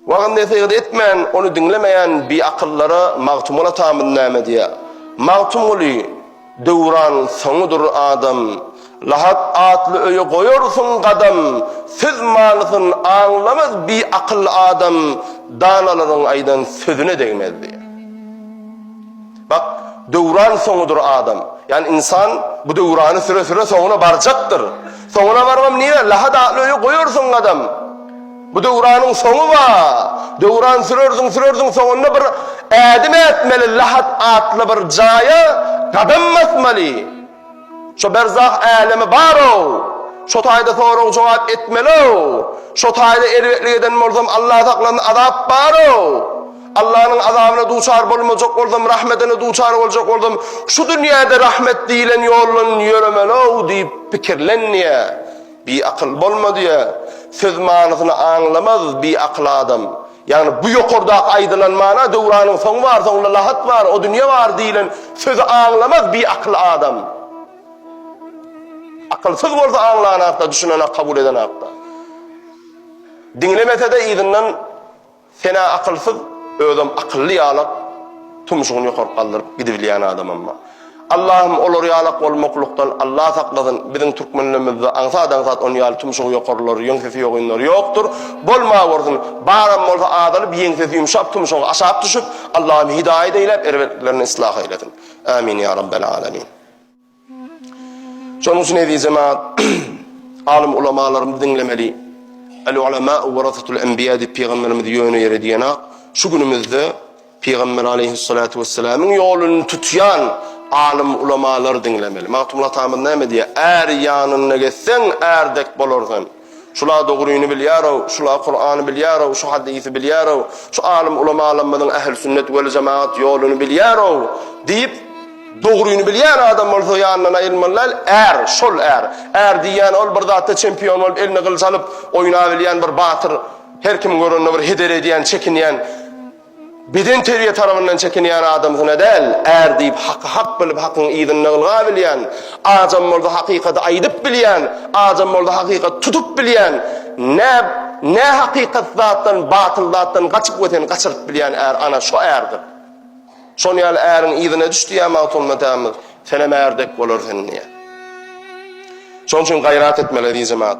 Wagyz-nesihat etmän, ony diňlemeýän biakyllara Magtymguly atamyz näme diýýär? Magtymguly, Döwran soňudyr adam, Lahap atly öýe goýarsyň gadam, Söz manysyn aňlamaz biakyl adam, Danalaryň aýdan sözüne degmez diýýär. Bak, Döwran soňudyr adam. Ýagny ynsan bu döwrany süre-süre soňuna barjakdyr. Soňuna barybam nirä? Lahap atly öýe goýarsyň gadam. Bu döwranyň soňy bar. Döwran sürersiň, sürersiň, soňunda bir ädim ätmeli, Lahat atly bir jaýa gadam basmaly. Şo berzah älemi bar-ow. Şo taýda sorag-jogap etmeli-ow. Şo taýda erbetlik eden bolsam, Allah saklasyn, azap bar-ow. Allanyň azabyna duçar bolmajak bolsam, rahmetine duçar boljak bolsam, şu dünýäde rahmet diýlen ýoldan ýöremeli-ow diýip pikirlenýär. Biakyl bolma diýýär. Söz manysyny aňlamaz biakyl adam. Ýagny bu ýokardaky aýdylan mana Döwranyň soňy bar, soňunda lahat bar, o dünýe bar diýlen sözi aňlamaz biakyl adam. Akylsyz bolsa aňlanakda, düşünenak, kabul edenakda. Diňlemese-de yzyndan Sen-ä akylsyz, özem akylly ýalak, tumşugyny ýokary galdyryp gidibilýän adamam-a. Allahym olar ýalak bolmaklykdan Allah saklasyn, biziň türkmenlerimizde aňsat-aňsat ony ýaly tumşugy ýokarylary, ýeňsesi ýogynlary ýokdur, bolmawersin, baram bolsa azalyp, ýeňsesi ýumşap, tumşugy aşak düşüp, Allahym hidaýat eýläp, erbetliklerinden islah eýlesin. Ämin ýa Rabbel Alamin. Şonuň üçin eziz jemaat, alym ulamalarymyzy diňlemeli. El-ulema warasatul enbiýa diýip pygamberimiz ýöne ýere diýenok. Şu günümizde pygamber aleyhissalatu wesselamyň ýoluny tutýan alym ulamalary diňlemeli. Magtymguly atamyz näme diýýär? Är ýanyna gezseň, ärdek bolarsyň. Şula dogryny bilýär-ow, şula Kurany bilýär-ow, şu hadysy bilýär-ow, şu alym-ulamalarymyzyň ählüsünnet weljemagat ýoluny bilýär-ow diýip, dogryny bilýän adam bolsa ýanyndan aýrylmaly däl, är, şol är. Är diýýän ol bir zatda çempion bolup eline gylyç alyp oýnabilýän bir batyr, her kim görende bir heder edýän, çekinýän. Bedenterbiýe tarabyndan çekinýän adam syna däl, är diýip haky hak bilip hakyň yzynda ylga bilýän, ajam bolsa hakykady aýdyp bilýän, ajam bolsa hakykaty tutup bilýän, nä nä hakykat zatdan batyl zatdan gaçyp we seni gaçyryp bilýän är ana şo ärdir. Şon ýaly äriň yzyna düş diýýär Magtymguly atamyz, senem är dek bolarsen diýýär. Şoň üçin gaýrat etmeli eziz jemaat.